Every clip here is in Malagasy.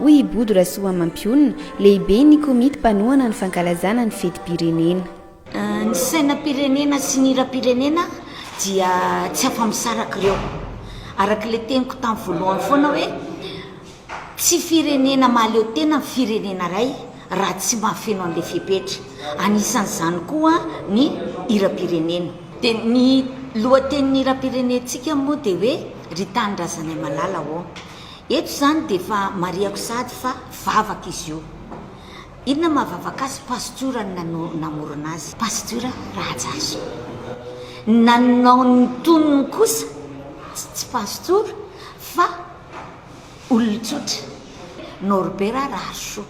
hoy i Bodo Rasoamampiona, lehiben'ny komity mpanohana ny fankalazana ny fetim-pirenena. Ny sainam-pirenena sy ny hiram-pirenena dia tsy afa-misaraka ireo. Araka ilay teniko tamin'ny voalohany foana hoe tsy firenena mahaleo tena ny firenena iray raha tsy mahafeno an'ilay fepetra. Anisan'izany koa ny hiram-pirenena. Dia ny lohatenin'ny hiram-pirenentsika moa dia hoe Ry Tanindrazanay malala ô. Eto izany dia efa marihako sahady fa vavaka izy io. Inona mahavavaka azy? Pastora no namorona azy. Pastora Rahajason. Ny nanao ny tonony kosa tsy pastora fa olon-tsotra. Norbert Raharisoa.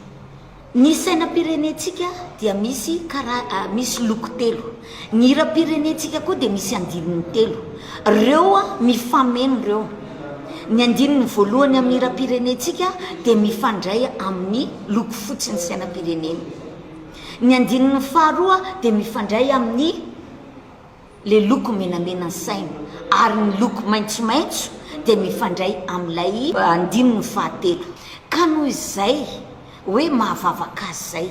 Ny sainam-pirenentsika dia misy kara misy loko telo. Ny hiram-pirenentsika koa dia misy andininy telo. Ireo mifameno ireo. Ny andininy voalohany amin'ny hiram-pirenentsika dia mifandray amin'ny loko fotsin'ny sainam-pirenena. Ny andininy faharoa dia mifandray amin'ny Ilay loko menamena ny saina ary ny loko maitsomaitso dia mifandray amin'ilay andininy fahatelo. Ka noho izay hoe mahavavaka azy izay.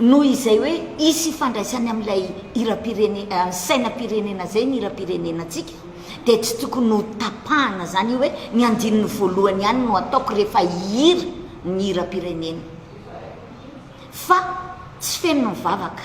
Noho izay hoe hisy ifandraisany amin'ilay hiram-pirenena, sainam-pirenena izay ny hiram-pirenenantsika dia tsy tokony ho tapahana izany io hoe ny andininy voalohany ihany no ataoko rehefa hihira ny hiram-pirenena. Fa tsy feno ny vavaka.